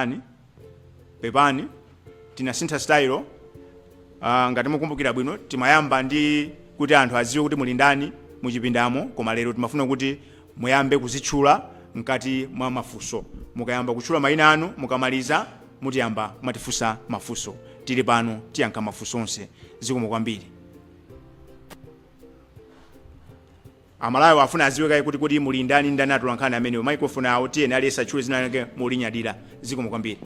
Pepani, pepani, tinasintha style. Uh, ngati mukumbukira bwino timayamba ndi kuti anthu adziwe kuti muli ndani muchipindamo, koma lero timafuna kuti muyambe kuzitchula mkati mwa mafunso. Mukayamba kutchula mayina anu, mukamaliza mutiyamba kumatifunsa mafunso. Tili pano tiyankha mafunso onse. Zikomo kwambiri. Amalawi afuna aziwe kaye kuti kodi muli ndani ndani atolankhani amenewo microphone awo tiyeni aliyese atchule zina lake molinyadira zikomo kwambiri.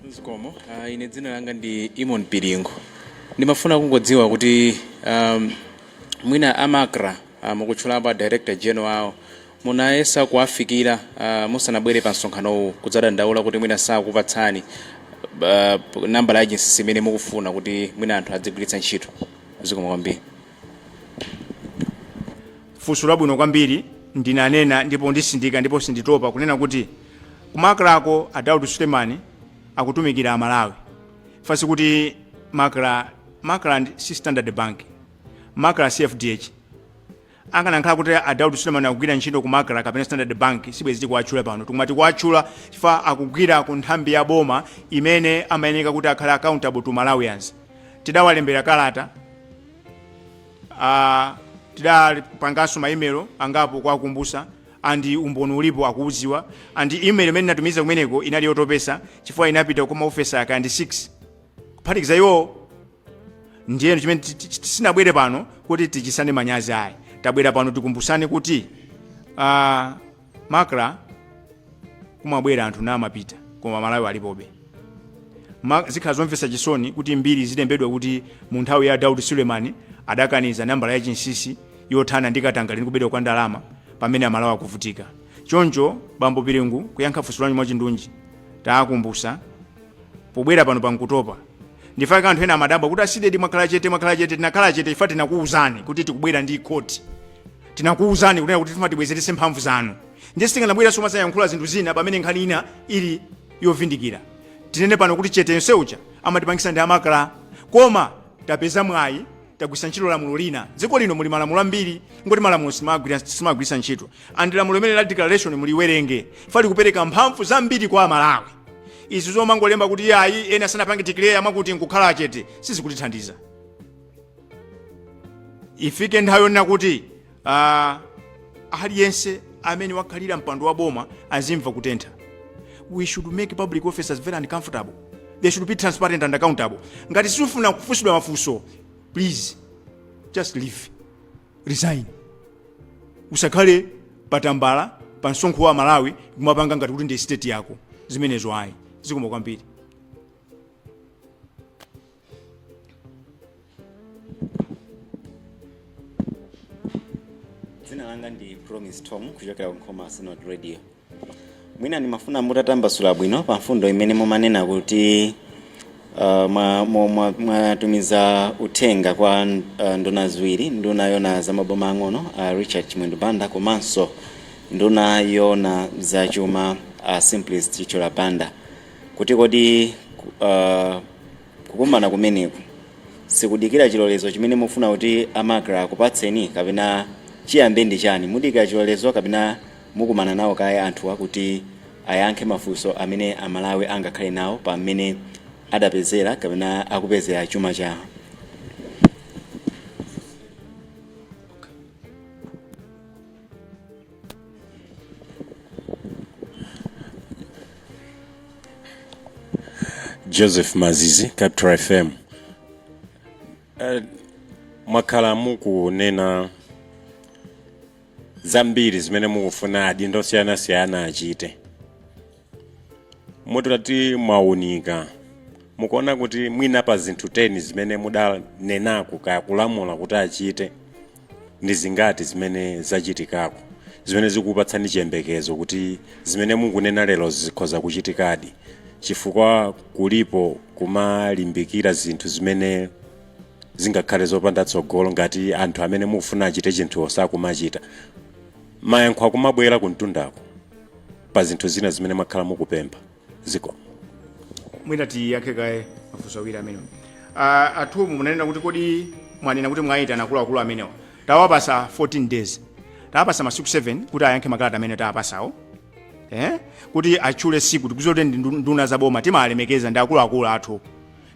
zikomo uh, ine dzina langa ndi eamon piringu ndimafuna kungodziwa kuti um, mwina a macra uh, mukutchulapo a director general awo munayesa kuwafikira uh, musanabwere pa msonkhanowu kudzadandaula kuti mwina sakupatsani uh, nambala ya agency imene mukufuna kuti mwina anthu adzigwiritsa ntchito zikomo kwambiri funso labwino kwambiri ndinanena ndipo ndisindika ndipo sinditopa kunena kuti ku macrako a daud suleman akutumikira amalawi chifukwa sikuti macra macra ndi- si standard bank macra si fdh Akanakhala kuti a Daud Suleman akugwira ntchito ku Macra kapena Standard Bank sibwezi tikuwatchula pano. Ti- koma tikuwatchula chifukwa akugwira ku nthambi ya boma imene amayeneka kuti akhale accountable to Malawians. Tidawalembera kalata, a tidapanganso ma email angapo kuwakumbusa and umboni ulipo akuuziwa and email imene ndinatumiza kumeneko inali yotopesa chifukwa inapita kwa maofesa kaya ndi 6 kuphatikiza iwo ndiyeno chimene ti- ti- ti- sinabwere pano kuti tichisane manyazi ayi tabwera pano tikumbusane kuti uh, macra kumabwera anthu namapita koma malawi alipobe Ma- zikhala zomvetsa chisoni kuti mbiri zilembedwa kuti mu nthawi ya daud suleman adakaniza nambala ya chinsinsi yothana ndi katangale ndi kubedwa kwa ndalama pamene amalawi akuvutika choncho bambo piringu kuyankha funso lanu mwachindunji tawakumbusa pobwera panopa nkutopa nchifukwa chake anthu ena amadabwa kuti a cdedi mwakhala chete mwakhala chete tinakhala chete chifukwa tinakuwuzani kuti tikubwera ndi code tinakuwuzani kunena kuti tifuna tibwezeretse mphamvu zanu ndiye sitikanabweranso kumazayankhula zinthu zina pamene nkhani ina ili yovindikira tinene pano kuti chete yonse uja amatipangisa ndi a macra koma tapeza mwayi tagwirisa ntchito lamulo lina dziko lino muli malamulo ambiri kungoti malamulo sitimagwirisa ntchito and lamulo limene la declaration muliwerenge chifukwa likupereka mphamvu zambiri kwa amalawi izi zomangolemba kuti ayi ena sanapange declare a mwakuti nkukhala chete sizikutithandiza ifike nthawi yonena kuti Ah, aliyense amene wakhalira mpando wa boma azimva kutentha we should make public officers very uncomfortable they should be transparent and accountable ngati siufuna kufunsidwa mafunso please just leave resign usakhale patambala pa msonkho wa amalawi kumapanga ngati kuti ndi state yako zimenezo ayi zikomo kwambiri dzina langa ndi promise tom kuchokera ku nkhoma synod radio mwina ndimafuna mutatambasula bwino pa mfundo imene mumanena kuti uh, mwa- mwa- mwa- mwatumiza uthenga kwa uh, nduna ziwiri nduna yona za maboma ang'ono uh, richard chimwendo banda komanso nduna yona za chuma uh, simplex chithyola banda kuti kodi uh, Kukumana kumeneku sikudikira chilolezo chimene mufuna kuti a Macra akupatseni kapena chiyambe ndi chani? Mudikira chilolezo kapena mukumana nawo kaye anthuwa kuti ayankhe mafunso amene a Malawi angakhale nawo pa mmene adapezera kapena akupezera chuma chawo? joseph mazizi capital fm uh, mwakhala mukunena zambiri zimene mukufuna adindo osiyanasiyana achite mutati mwaunika mukuona kuti mwina pa zinthu 10 zimene mudanenako kaya kulamula kuti achite ndi zingati zimene zachitikako zimene zikukupatsani chiyembekezo kuti zimene mukunena lero zikhoza kuchitikadi chifukwa kulipo kumalimbikira zinthu zimene zingakhale zopanda tsogolo ngati anthu amene mukufuna achite chinthu osakumachita Mayankho akumabwera kumtundako pa zinthu zina zimene mwakhala mukupempha. Zikomo. Mwina tiyankhe kaye mafunso awiri amenewa. Uh, a Tom munanena kuti kodi mwanena kuti mwayitana akuluakulu amenewa tawapasa 14 days tawapasa masiku 7 kuti ayankhe makalata amene tawapasawo eh? kuti atchule siku tikudziwa kuti ndi ndu- nduna za boma timalemekeza ndi akuluakulu athu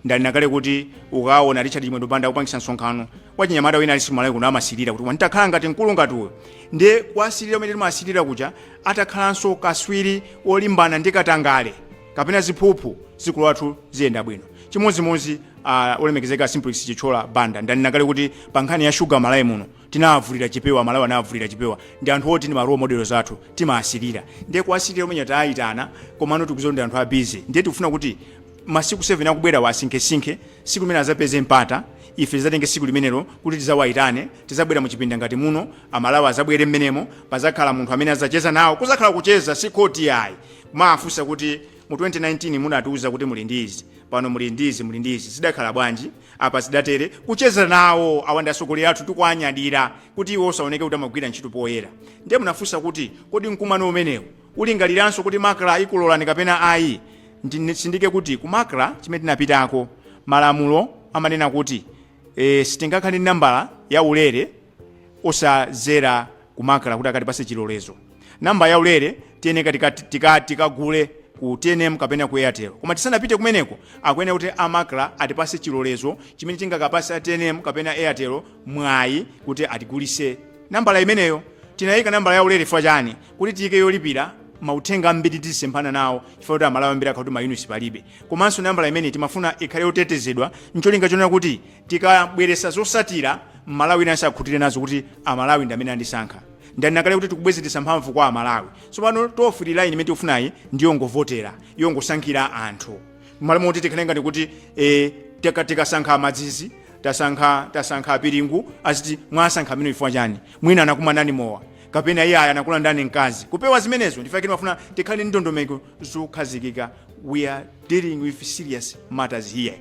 Ndanena kale kuti ukawona Richard Chimwendo Banda akupangisa msonkhano wachinyamata wina aliyense Malawi kuno amasirira kuti nditakhala ngati mkulu ngati uyo ndi kuwasirira kumene timawasirira kuja atakhalanso akatswiri olimbana ndi katangale kapena ziphuphu dziko lathu ziyenda bwino chimodzimodzi uh, olemekezeka simplex chithyola banda ndanena kale kuti pa nkhani ya shuga malawi muno tinavulira chipewa amalawi anavulira chipewa ndi anthu oti ndi ma role models athu timaasirira ndiye kuasirira kumene tayitana komano tikuziwa ndi anthu a busy ndiye tikufuna kuti masiku 7 akubwerawa asinkhesinkhe siku limene azapeze mpata ife tizatenge siku limenelo kuti tizawayitane tizabwera mu chipinda ngati muno amalawi azabwere mmenemo pazakhala munthu amene azacheza nawo kuzakhala kucheza si khoti ayi kumaafunsa kuti mu 2019 munatiuza kuti muli ndi izi pano muli ndi izi muli ndi izi zidakhala bwanji Apa zidatere, kucheza nawo, awa ndi atsogoleri athu tikuwanyadira kuti iwonso aoneke kuti amagwira ntchito poyera. Ndiye munafunsa kuti, kodi mkumano umenewu ulingaliranso kuti Macra ikulorani kapena ayi? Nditsindike kuti ku Macra chimene tinapitako, malamulo amanena kuti ee sitingakhale ndi nambala ya ulere, osazera ku macra kuti akatipase chilolezo namba ya ulere tiyeneka tikagule tika, tika, tika ku tnm kapena ku airtel koma tisanapite kumeneko akuyenera kuti a macra atipase chilolezo chimene chingakapase a tnm kapena airtel mwayi kuti atigulise nambala imeneyo tinayika nambala ya ulere chifukwa chani kuti tiyike yolipira mauthenga ambiri tizisemphana nawo chifukwa kuti amalawi ambiri akhala kuti mayunisi palibe komanso nambala imene timafuna ikhale yotetezedwa ncholinga chonena kuti Tikabweresa zosatira mmalawi winanso akhutire nazo kuti amalawi ndamene andisankha. Ndanena kale kuti tikubwezeretsa mphamvu kwa amalawi. Tsopano toll free line imene tikufunayi ndiyongovotera, yongosankhira anthu. Mmalo moti tikhale ngati kuti eeh tikasankha amadzizi, tasankha tasankha apiringu aziti mwasankha amenewo chifukwa chani? Mwina anakumanani mowa. Kapena iyayi anakulandani mkazi. Kupewa zimenezo ndichifukwa chake timafuna tikhale ndi ndondomeko zokhazikika. We are dealing with serious matters here.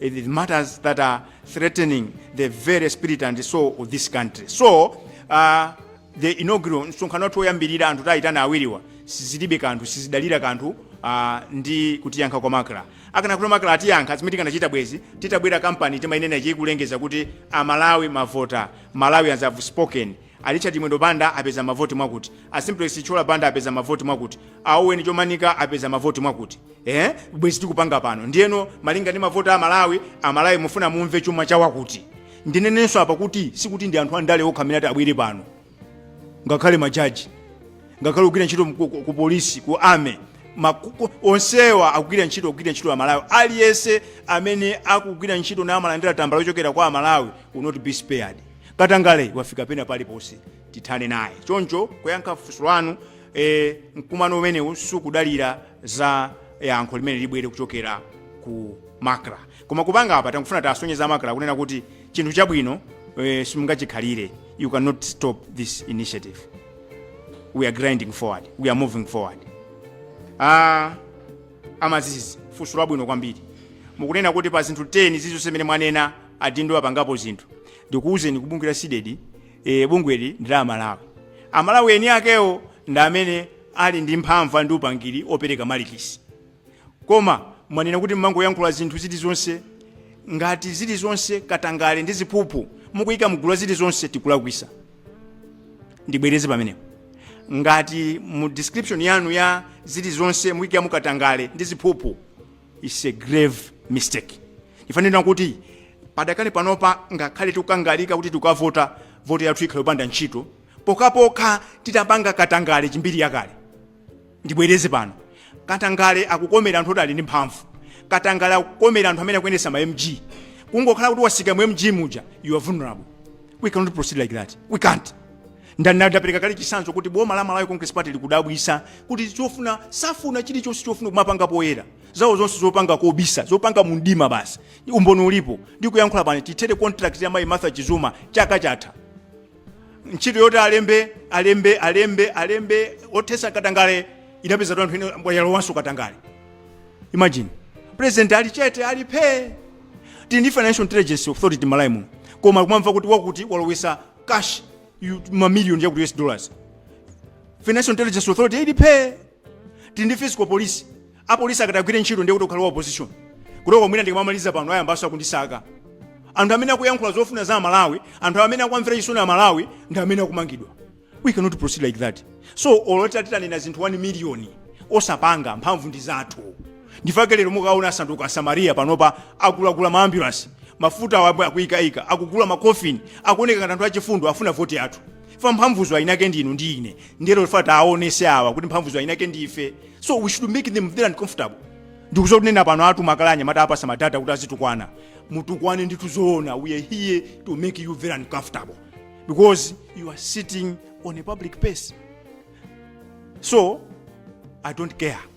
It is matters that are threatening the very spirit and soul of this country. So, uh, the inaugural msonkhano wathu woyambirira anthu tayitana awiriwa sizilibe kanthu sizidalira kanthu uh, ndi kutiyankha kwa macra akanakuti macra atiyankha zimene tikanachita bwezi titabwera kampani timayinena ikulengeza kuti amalawi mavota malawians have spoken A Richard Chimwendo Banda apeza mavoti mwakuti, a Simplex Chithyola Banda apeza mavoti mwakuti, a Owen Chomanika apeza mavoti mwakuti. Eeh bwezi tikupanga pano? Ndiyeno malinga ndi mavoti a Amalawi, Amalawi mufuna mumve chuma cha wakuti. Ndinenenso apa kuti sikuti ndi anthu andale okha amene ati abwere pano. Ngakhale majaji, ngakhale ogwira ntchito ku, ku, ku polisi, ku army, makuku onsewa akugwira ntchito kugwira ntchito Amalawi. Aliyense amene akugwira ntchito na amalandira tambala yochokera kwa Amalawi will not be spared. katangale wafika pena paliponse tithane naye choncho kuyankha funso lanu e, mkumano umenewu sukudalira za yankho limene libwere kuchokera ku macra koma kupanga apa tangofuna tasonyeza macra kunena kuti chinthu chabwino e, simungachikhalire you cannot stop this initiative we are grinding forward we are moving forward ah, amazizi funso labwino kwambiri mukunena kuti pa zinthu 10 zizonse zimene mwanena adindo apangapo zinthu ndikuuzeni kuti bungwe la CDEDI e, bungweli ndi la amalawi amalawi eni akewo ndi amene ali ndi mphamvu ndi upangiri opereka malikisi koma mwanena kuti mmangoyankhula zinthu zilizonse ngati zilizonse katangale ndi ziphuphu mukuyika mgulu la zilizonse tikulakwisa ndibwereze pamenepo ngati mu description yanu ya zilizonse mukuyikamo katangale ndi ziphuphu It's a grave mistake. Ndifa ndinena kuti padakali pano pa ngakhale tikukangalika kuti tikavota voti yathu ikhala yopanda ntchito pokhapokha titapanga katangale kukhala mbiri yakale ndibwereze pano katangale akukomera anthu oti ali ndi mphamvu katangale akukomera anthu amene akuyendesa ma mg kungokhala kuti watsika mu mg muja you are vulnerable we cannot proceed like that we can't ndinapereka kale chitsanzo kuti boma la malawi congress party likudabwisa kuti chofuna safuna chilichonse chofuna kumapanga poyera zawo zonse zopanga kobisa zopanga mumdima basi umboni ulipo ndikuyankhula pano ithere contract ya mayi martha chizuma chaka chatha ntchito yoti alembe alembe alembe alembe othetsa katangale inapeza anthu ene yalowanso katangale imagine president ali chete ali phee tili ndi financial intelligence authority malawi muno koma kumamva kuti wakuti walowesa cash ya mamillion ya ma us dollars financial intelligence authority ili phee tili ndi fiscal police apolisi akatagwire ntchito ndiye kuti ukhala wa opposition kuteroko mwina ndikamamaliza pano ayambanso akundisaka anthu amene akuyankhula zofuna za amalawi anthu amene akuamvera chisoni amalawi ndi amene akumangidwa we cannot proceed like that so olo titanena zinthu 1 million osapanga mphamvu ndi zathu Ndi chifukwa chake lero mukaona asanduka asamariya panopa agulagula ma ambulance mafuta awa akuikaika akugula ma coffin akuoneka ngati anthu achifundo afuna vote yathu fa mphamvuzo eni ake ndi inu ndi ine nde lero tiwaonetse awa kuti mphamvuzo eni ake ndi ife so we should make them very uncomfortable ndikudziwa kunena pano atuma kale anyamata awapatsa madata kuti azitukwana mutukwane ndithu zoona we are here to make you very uncomfortable because you are sitting on a public place so i don't care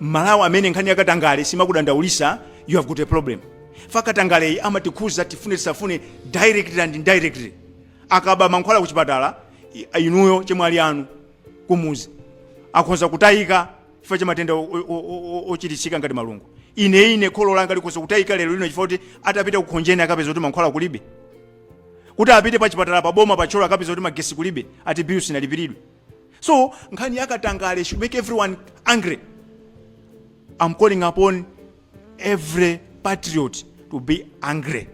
mmalawi amene nkhani yakatangale simakudandaulitsa you have got a problem fa katangaleyi amatikhuza tifune tisafune directly and indirectly akaba mankhwala kuchipatala i- inuyo achemwali anu kumuzi akhoza kutayika chifukwa cha matenda o- o- o- o- ochiritsika ngati malungo ine ine kholo langa likhoza kutayika lero lino chifukwa kuti atapita kukhonjeni akapeza kuti mankhwala kulibe kuti apite pa chipatala pa boma pa thyolo akapeza kuti magesi kulibe ati bill sinalipiridwe so nkhani ya katangale should make everyone angry i'm calling upon every patriot to be angry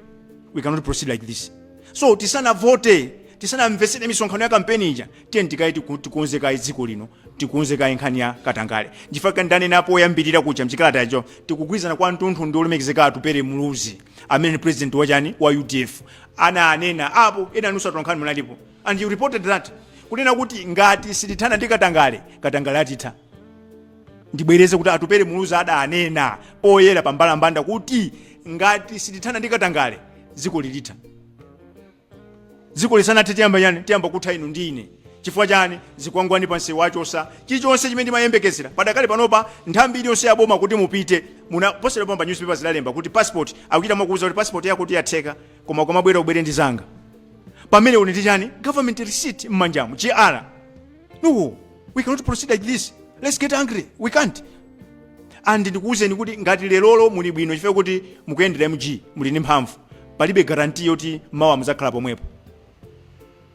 we cannot proceed like this so tisanavote tisanamvetsere misonkhano ya kampeni ija tiyeni tikonze kaye tiku- tikonze kaye dziko lino tikonze kaye nkhani ya katangale nchifukwa ndanenapo oyambirira kuja mchikalata yacho tikugwirizana kwa mtunthu ndi olemekezeka Atupele muluzi amene ni president wachipani cha udf ana anena apo ena inu atolankhani munalipo And you reported that kunena kuti ngati sitithana ndi katangale katangale atitha ndibwereze kuti Atupele Muluzi adanena poyera pa mbalambanda kuti ngati sitithana ndi katangale dziko lilitha dziko lisanathe tiyamba ndani tiyamba kutha inu ndi ine chifukwa chani zikwangwani pa msewu achosa chilichonse chimene ndimayembekezera padakali panopa nthambi iliyonse yaboma kuti mupite muna posachedwa pompa newspaper zidalemba kuti passport akuchita mwakuuza kuti passport yako kuti yatheka koma ukamabwera ubwere ndi zanga pamene uli ndi chani government receipt m'manjamu gr no we cannot proceed like this let's get angry we can't and ndikuwuzeni kuti ngati lerolo muli bwino chifukwa kuti mukuyendera mg muli ndi mphamvu palibe guarantee yoti mawa muzakhala pomwepo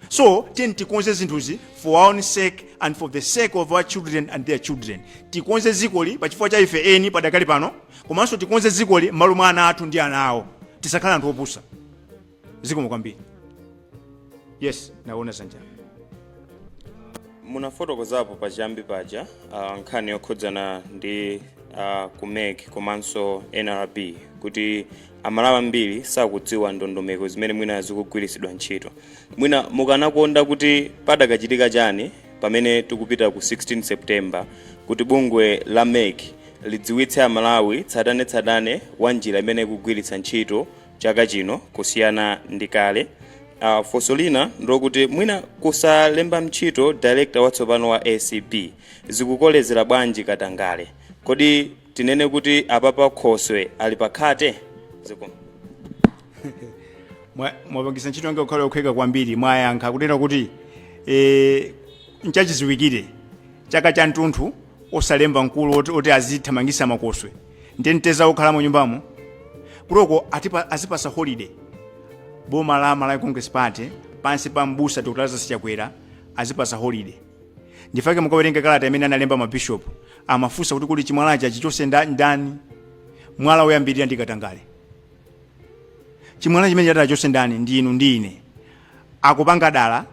so tiyeni tikonze zinthuzi for our own sake and for the sake of our children and their children tikonze dzikoli pachifukwa cha ife eni padakali pano komanso tikonze dzikoli m'malo mwa ana athu ndi ana awo tisakhala anthu opusa zikomo kwambiri yes naona dzanja munafotokozapo pachiyambi paja uh, nkhani yokhudzana ndi uh, ku mec komanso nrb kuti Amalawi ambiri sakudziwa ndondomeko zimene mwina zikugwiritsidwa ntchito. Mwina mukanakonda kuti padakachitika chani pamene tikupita ku 16 September kuti bungwe la mec lidziwitse Amalawi tsatanetsatane wa njira imene ikugwiritsa ntchito chaka chino kusiyana ndi kale? Funso lina ndilokuti mwina kusalemba ntchito director watsopano wa acb zikukolezera bwanji katangale? Kodi Tinene kuti apapa khoswe ali pa mkhate? Zikomo. Mwa- mwapangisa ntchito yanga kukhala yophweka kwambiri mwayankha kunena kuti e, nchachidziwikire chaka cha mtunthu osalemba mkulu oti, oti azithamangisa makoswe ndi atsekwe okhala mu nyumbamo kuti atipa- azipasa holiday boma la malawi congress party pansi pa mbusa dr lazarus chakwera azipasa holiday nchifukwa chake mukawerenga kalata imene analemba mabishopu amafunsa kuti kuli chimwalachi achichotse nda- ndani mwala woyambirira ndi katangale chimwala chimene chiti achotse ndani ndi inu ndi ine akupanga dala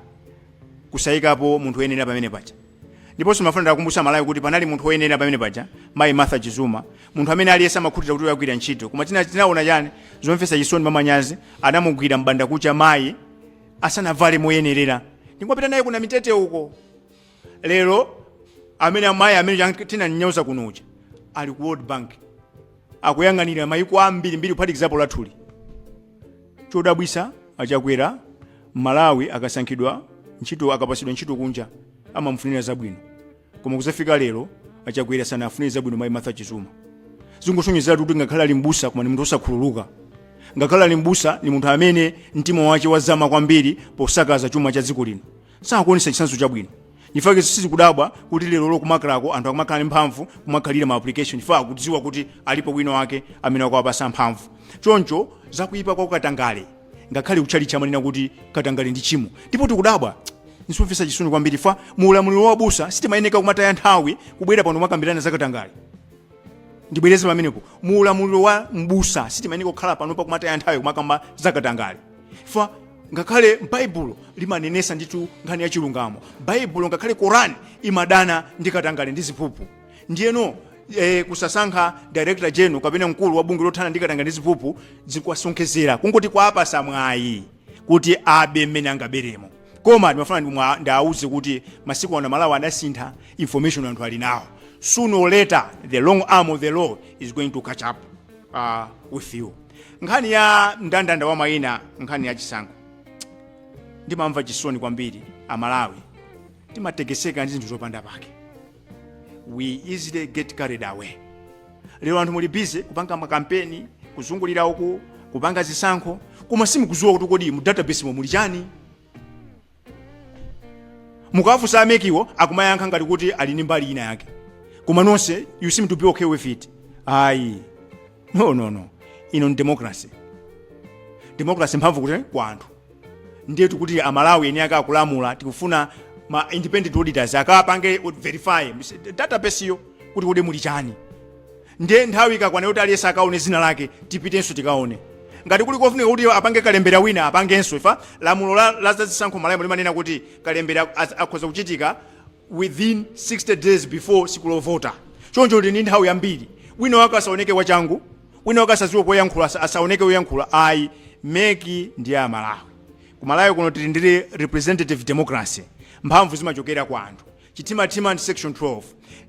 kusayikapo munthu woyenera pamene paja ndiponso ndimafuna ndiwakumbutse Amalawi kuti panali munthu woyenera pamene paja mayi martha chizuma munthu amene aliyense amakhutira kuti akugwira ntchito koma tina- tinaona chani zomvetsa chisoni mwamanyazi anamugwira m'bandakucha mayi asanavale moyenerera ndingopita naye kunamitete uko lero amene amayi amene chan- tinamunyoza kuno uja ali ku world bank akuyang'anira mayiko ambiri mbiri kuphatikizapo lathuli chodabwisa a Chakwera mmalawi akasankhidwa ntchito akapatsidwa ntchito kunja amamufunira zabwino Koma kuzafika lero a Chakwera sanafunire zabwino mai Martha Chizuma. Zingosonyezeratu kuti ngakhale ali m'busa koma ni munthu osakhululuka. Ngakhale ali m'busa ni munthu amene mtima wake wazama kwambiri posakaza chuma cha dziko lino. Sakuonesa chitsanzo chabwino. Nchifukwa sitikudabwa kuti lero lo kumakalako anthu akumakhala ni mphamvu kumakhalira ma application chifukwa akudziwa kuti alipo wina wake amene akuwapasa mphamvu. Choncho za kuipa kwa katangale. ngakhale kutchalitchi amanena kuti katangale ndi chimo ndipo tikudabwa nzomvetsa chisoni kwambiri fa mu ulamuliro wa mbusa sitimayeneka kumataya nthawi kubwera pano kumakambirana za katangale ndibwereze pamenepo mu ulamuliro wa mbusa sitimayeneka kukhala pano pakumataya nthawi kumakamba za katangale fa ngakhale baibulo limanenesa ndithu nkhani ya chilungamo baibulo ngakhale korani imadana ndi katangale ndi ziphuphu ndiyeno eh, kusasankha director general kapena mkulu wa bungwe lothana ndi katangale ndi ziphuphu zikwasonkhezera kungoti kwapasa mwayi kuti abe mmene angaberemo koma ndimafuna ndimwa- ndiawuze kuti masiku ano amalawi adasintha information anthu ali nawo sooner or later the long arm of the law is going to catch up uh, with you nkhani ya mndandanda wa mayina nkhani ya chisankho ndimamva chisoni kwambiri amalawi timatekeseka ndi zinthu zopanda pake we easily get carried away lero anthu muli busy kupanga makampeni kuzungulira uku kupanga zisankho koma simukuziwa kuti kodi mu database mo muli chani mukawafunsa amekiwo akumayankha ngati kuti ali ndi mbali ina yake koma nonse you seem to be okay with it ayi no no no ino ni democracy democracy mphamvu ku- kwa anthu ndiye tikuti amalawi eni ake akalamula tikufuna ma independent auditors akapange verify mis- database yo kuti kodi muli chani ndiye nthawi ikakwana yoti aliyense akaone dzina lake tipitenso tikaone ngati kuli kofunika kuti apange kalembera wina apangenso ifa lamulo la, la zazisankho mmalawi limanena kuti kalembera az- akhoza kuchitika within 60 days before tsiku lovota choncho tili ndi nthawi yambiri wina wake asaoneke wachangu wina wake asaziwe koyankhula asa- asaoneke oyankhula ayi meki ndi ya amalawi ku malawi kuno tili ndi representative democracy mphamvu zimachokera kwa anthu chithimathima ndi section 12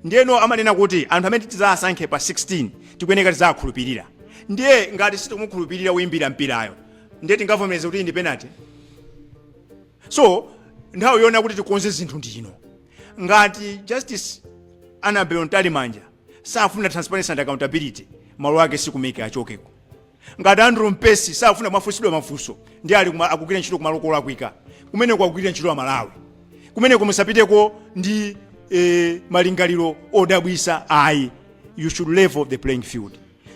ndiyeno amanena kuti anthu amene tidzawasankhe pa 16 tikuyeneka tidzawakhulupirire ndiye ngati sitikumukhulupirira woyimbira mpirayo ndiye tingavomereze kuti ndi penalty so nthawi yoona yakuti tikonze zinthu ndi ino ngati Justice Annabel Mtalimanja safuna transparency and accountability malo ake si ku MEC achokeko ngati Andrew Mpesi safuna kumafunsidwa mafunso ndi ali kuma- akugwira ntchito kumalo kolakwika kumene akugwirira ntchito Amalawi kumeneko musapiteko ndi eh, malingaliro odabwisa ayi you should level the playing field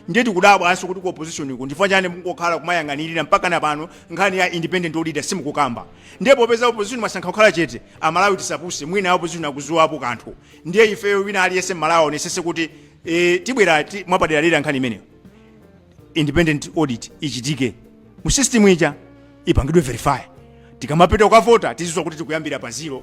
ndiye tikudabwanso kuti ku opposition ku ndifukwa chani mukungokhala kumayang'anira mpakana pano nkhani ya independent auditor simukukamba ndiye popeza opposition mwasankha kukhala chete amalawi tisapuse mwina opposition akuziwapo kanthu ndiye ifeyo wina aliyense mmalawi aonesese kuti e, tibwera ti, mwapaderadera nkhani imeneyo independent audit ichitike mu system ija ipangidwe verify tikamapita kukavota tizizwa kuti tikuyambira pa zero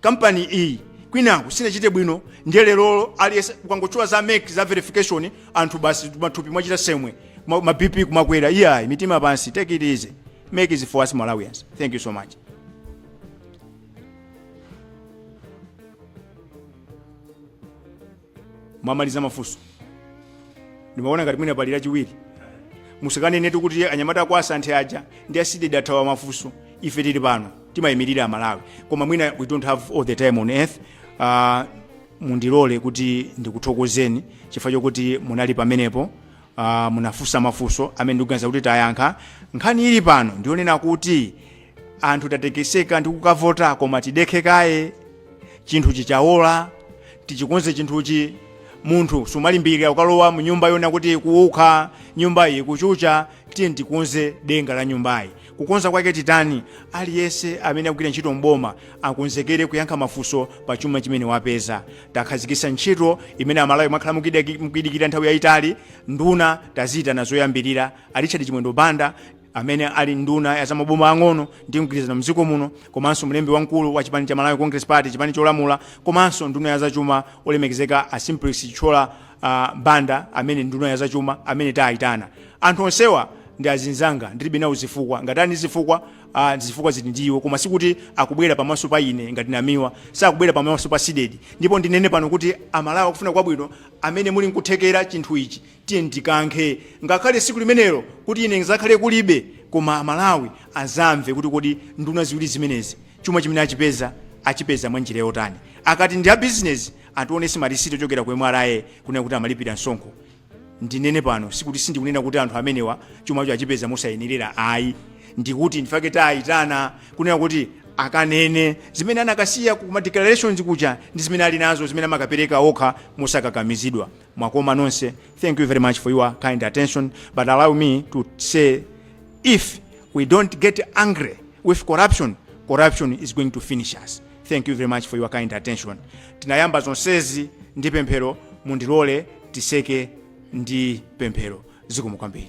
kampani iyi kwinaku sinachite bwino ndiye lerolo aliyese ukangotchula za MEC za verification anthu basi mathupi mwachita tsembwe ma, ma bp kumakwera iyayi mitima pansi take it easy MEC is for us malawians thank you so much mwamaliza mafunso ndimaona ngati mwina pali lachiwiri musikanenetu kuti anyamata a kwa a Santhe aja ndi a CDEDI athawa mafunso ife tili pano timayimirira amalawi koma mwina we don't have all the time on earth uh, mundilole kuti ndikuthokozeni chifukwa chokuti munali pamenepo uh, munafunsa mafunso amene ndikuganiza kuti tayankha nkhani ili pano ndi yonena kuti anthu tatekeseka ndi kukavota koma tidekhe kaye chinthu chikawola tichikonze chinthuchi munthu sumalimbikira ukalowa mu nyumba yona kuti ikuwukha nyumbayi ikuchucha tiye tikonze denga la nyumbayi kukonza kwake titani aliyense amene akugwira ntchito mboma akonzekere kuyankha mafunso pa chuma chimene wapeza takhazikitsa ntchito imene amalawi mwakhala mukidaki- mukidikira nthawi yayitali nduna taziyitana zoyambirira a Richard Chimwendo Banda amene ali nduna ya zamaboma ang'ono ndi mgwirizano mdziko muno komanso mlembi wamkulu wa chipani cha malawi congress party chipani cholamula komanso nduna ya zachuma olemekezeka a Simplex Chithyola ah, banda amene nduna ya zachuma amene tayitana anthu onsewa ndi azinzanga ndilibe nawo zifukwa ngati ali ndi zifukwa ah, zifukwa zili ndi iwo koma sikuti akubwera pamaso pa ine ngati Namiwa sakubwera pamaso pa CDEDI ndipo ndinene pano kuti amalawi akufuna kwabwino amene muli nkuthekera chinthu ichi Tiyeni tikankhe ngakhale siku limenelo kuti ine ndizakhale kulibe koma amalawi azamve kuti kodi nduna ziwiri zimenezi chuma chimene achipeza achipeza mwa njira yotani. Akati ndi a business ationese ma receipt ochokera ku MRA kunena kuti amalipira msonkho. Ndinene pano sikuti sindikunena kuti anthu amenewa chumacho achipeza mosayenerera ayi ndikuti ndifake tayitana kunena kuti akanene zimene anakasiya ku ma declarations kuja ndi zimene ali nazo zimene amakapereka okha mosakakamizidwa. Mwakoma nonse thank you very much for your kind attention but allow me to say if we don't get angry with corruption, corruption is going to finish us. Thank you very much for your kind attention. Tinayamba zonsezi ndi pemphero mundilole tiseke ndi pemphero zikomo kwambiri.